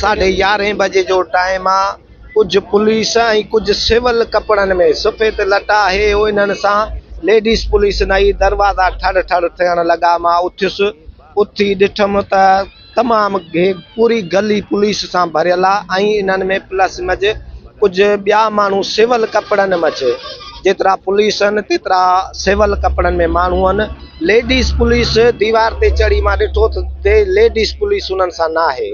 ساڍي يارهين بجي جو ٽائيم آ ڪجهه پوليس ۽ ڪجهه سول ڪپڙن ۾ سفيد لٽا آهي هو انهن سان ليڊيز پوليس نئي دروازا ٺڙ ٺڙ ٿيڻ لڳا مان اٿيس اٿي ڏٺم ته تمام پوري گلي پوليس سان ڀريل آ ۽ انهن ۾ پلس مج ڪجهه ٻيا ماڻهو سول ڪپڙن مج جيترا پوليس هن تيترا سول ڪپڙن ۾ ماڻهو هن ليڊيز پوليس ديوار تي چڙهي مان ڏٺو ته ليڊيز پوليس انهن سان ناهي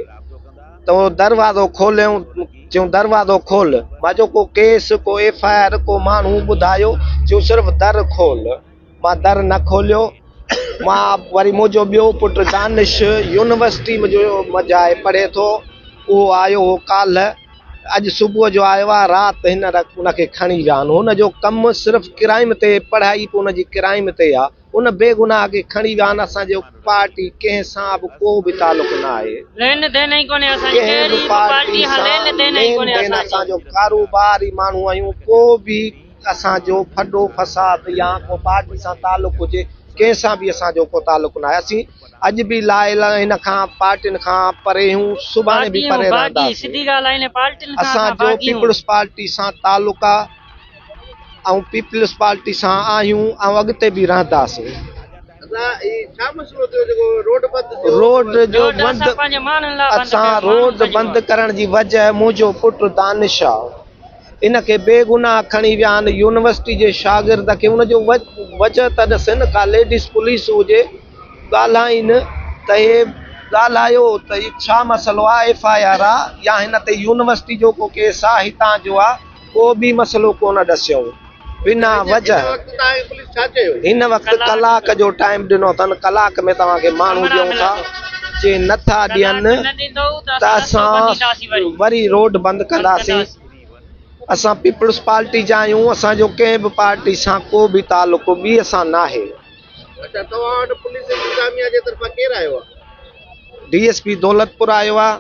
تو دروازو کوليون چيون دروازو کول مان چيو ڪو ڪيس ڪو ايف آء آر ڪو ماڻهو ٻڌايو چيون صرف در کول مان در نه کوليو. مان وري منهنجو ٻيو پٽ دانش يونيورسٽي ۾ آهي پڙهي ٿو. اهو آيو هو ڪالهه. اڄ صبح جو آيو آهي. رات هن ان کي کڻي ويا آهن. هن جو ڪم صرف ڪرائم تي پڙهائي به ان جي ڪرائم تي آهي. ان بي گناهه کي کڻي ويا آهن. اسان جو پارٽي ڪنهن سان به ڪو به تعلق نه آهي. ڪنهن به پارٽي سان لين دين اسان جو ڪاروبار ئي ماڻهو آهيون. ڪو به. اسان جو ڦڏو فساد يا ڪو پارٽي سان تعلق هجي ڪنهن سان به اسان جو ڪو تعلق ناهي اسين اڄ به لا اله هن کان پارٽين کان پري هون سڀاڻي به پري رهنداسين اسان جو پيپلز پارٽي سان تعلق آ ۽ پيپلز پارٽي سان آهيون ۽ اڳتي به رهنداسين. روڊ جو بند اسان روڊ بند ڪرڻ جي وجه منهنجو پٽ دانش آ. ان کي بيگناهه کڻي ويا آهن يونيورسٽي جي شاگرد کي ان جو وجهه ته ڏسين ڪا ليڊيز پوليس هجي ڳالهائين ته هي ڳالهايو ته هي ڇا مسئلو آ ايف آء آر آ يا هن تي يونيورسٽي جو ڪو ڪيس آ هتان جو آ ڪو به مسئلو ڪونه ڏسيائون. بنا وجه هن وقت ڪلاڪ جو ٽائيم ڏنو اٿن ڪلاڪ ۾ توهان کي ماڻهو ڏيون ٿا جي نٿا ڏين ته اسان وري روڊ بند ڪنداسين اسان پيپلز پارٽي جا آهيون اسان جو ڪنهن به پارٽي سان ڪو به تعلق ٻي سان ناهي اچا توهان وٽ پوليس انتظاميا جي طرفان ڪير آيو آهي ڊي ايس پي دولتپور آيو آهي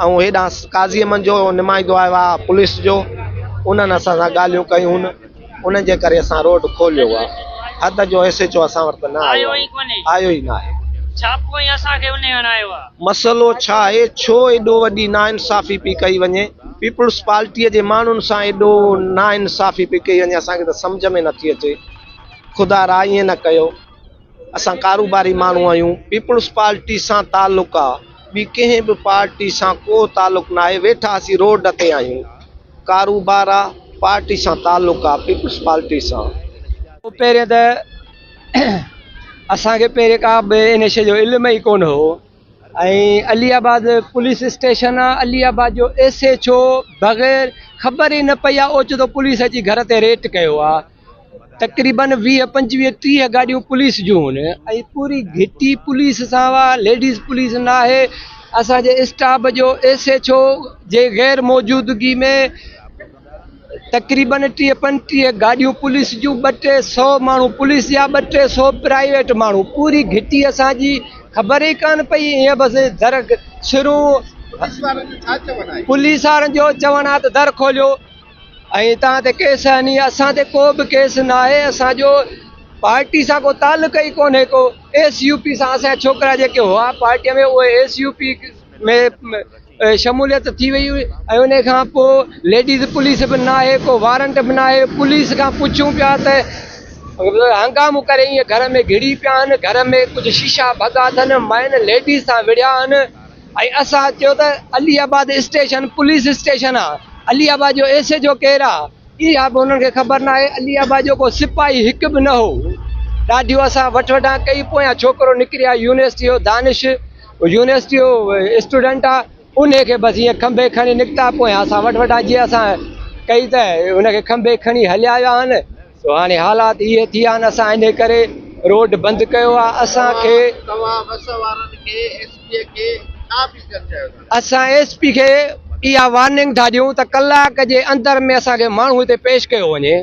ائون هيڏانهن قاضي احمد جو نمائندو آيو آ پوليس جو انهن اسان سان ڳالهيون ڪيون انهن جي ڪري اسان روڊ کوليو آ حد جو ايس ايچ او اسان وٽ ته نه آيو آيو ئي ڪونهي آيو ئي ناهي ڇاپو ۽ اسان کي انهي هڻايو آ. مسئلو ڇا آهي ڇو ايڏو وڏي ناانصافي پي ڪئي وڃي پيپلز پارٽي جي ماڻهن سان ايڏو ناانصافي پي ڪئي وڃي اسان کي ته سمجهه ۾ نٿي اچي خدا را ائين نه ڪيو. اسان ڪاروباري ماڻهو آهيون، پيپلز پارٽي سان تعلق آ، ٻي ڪنهن به پارٽي سان ڪو تعلق ناهي، ويٺا اسين روڊ تي آهيون، ڪاروبار آ، پارٽي سان تعلق آ، پيپلز پارٽي سان. پهرين ته اسان کي پهرين ڪا به ان شيء جو علم ئي ڪونه هو ۽ علي آباد پوليس اسٽيشن آ، علي آباد جو ايس ايڇ او بغير خبر ئي نه پئي آ، اوچتو پوليس اچي گهر تي ريٽ ڪيو آ. تقريبن ويهه پنجويهه ٽيهه گاڏيون پوليس جون هن ۽ پوري گهٽي پوليس سان هئا ليڊيز پوليس نه آهي اسان جي اسٽاف جو ايس ايچ او جي غير موجودگي ۾ تقريبن ٽيهه پنجٽيهه گاڏيون پوليس جون ٻه ٽي سو ماڻهو پوليس جا ٻه ٽي سو پرائيويٽ ماڻهو پوري گهٽي اسان جي خبر ئي ڪانه پئي ائين بس در شروع پوليس وارن جو چوڻ آهي ته در کوليو ائين توهان تي ڪيس هني اسان تي ڪو به ڪيس ناهي اسان جو پارٽي سان ڪو تعلق ئي ڪونهي ڪو ايس يو پي سان اسان ڇوڪرا جيڪي هئا پارٽي ۾ اهي ايس يو پي ۾ شموليت ٿي وئي هئي ۽ ان کان پوء ليڊيز پوليس به ناهي ڪو وارنٽ به ناهي پوليس کان پڇون پيا ته هنگامو ڪري ائين گهر ۾ گهڙي پيا آهن گهر ۾ ڪجهه شيشا ڀڳا اٿن ماين ليڊيز سان وڙهيا آهن ۽ اسان چيو ته Aliabad station police station آ علي آباد جو ايس ايچ او ڪير آ اها به انهن کي خبر ناهي علي آباد جو ڪو سپاهي هڪ به نه هو ڏاڍيون اسان وٺ وٺان ڪئي پويان ڇوڪرو نڪري آيو يونيورسٽي جو دانش يونيورسٽي جو اسٽوڊنٽ آ انهي کي بس ائين کنڀي کڻي نڪتا پويان اسان وٺ وٺان جي اسان ڪئي ته ان کي کنڀي کڻي هليا ويا آهن سو هاڻي حالات اهي ٿي آهن اسان انهي ڪري روڊ بند ڪيو آهي اسان کي توهان بس وارن کي ايس پي کي ڇا اپيل ڪرڻ چاهيو ٿا اسان ايس پي کي اها وارننگ ٿا ڏيون ته ڪلاڪ جي اندر ۾ اسان کي ماڻهو هتي پيش ڪيو وڃي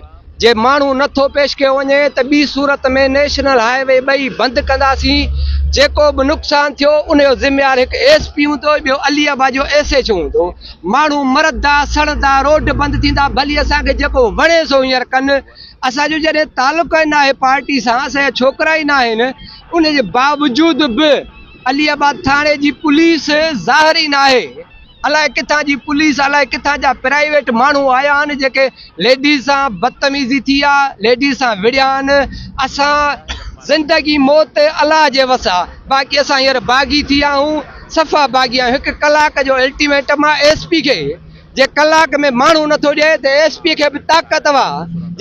جي ماڻهو نه ٿو پيش ڪيو وڃي ته ٻي صورت ۾ نيشنل هاء وي ٻئي بند ڪنداسين جيڪو به نقصان ٿيو انهي جو ذميوار هڪ ايس پي هوندو ٻيو علي آباد جو ايس ايڇ او هوندو ماڻهو مرندا سڙندا روڊ بند ٿيندا ڀلي اسان کي جيڪو وڻي سو هينئر ڪن اسان جو جڏهن تعلق ئي ناهي پارٽي سان اسان جا ڇوڪرا ئي ناهن ان جي باوجود به علي آباد ٿاڻي جي پوليس ظاهر ئي ناهي الائي ڪٿان جي پوليس الائي ڪٿان جا پرائيويٽ ماڻهو آيا آهن جيڪي ليڊيز سان بدتميزي ٿي آ ليڊيز سان وڙهيان اسان زندگي موت الله جي وس آ باقي اسان هينئر باغي ٿي آهون صفا باغي آهيون هڪ ڪلاڪ جو الٽيميٽم آ ايس پي کي جي ڪلاڪ ۾ ماڻهو نٿو ڏئي ته ايس پي کي به طاقت وا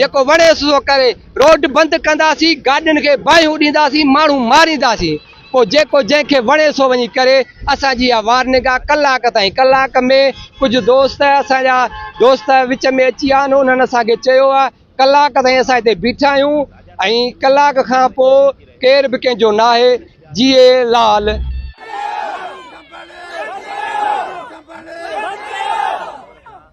جيڪو وڻيس سو ڪري روڊ بند ڪنداسين گاڏين کي باهيون ڏينداسين ماڻهو مارينداسين پوء جيڪو جنهن کي وڻي سو وڃي ڪري. اسان جي اها وار نگاهه ڪلاڪ تائين ڪلاڪ ۾ ڪجهه دوست اسان جا دوست وچ ۾ اچي ويا آهن انهن اسان کي چيو آهي ڪلاڪ تائين اسان هتي بيٺا آهيون ۽ ڪلاڪ کان پوء ڪير به ڪنهن جو ناهي جيئي لال.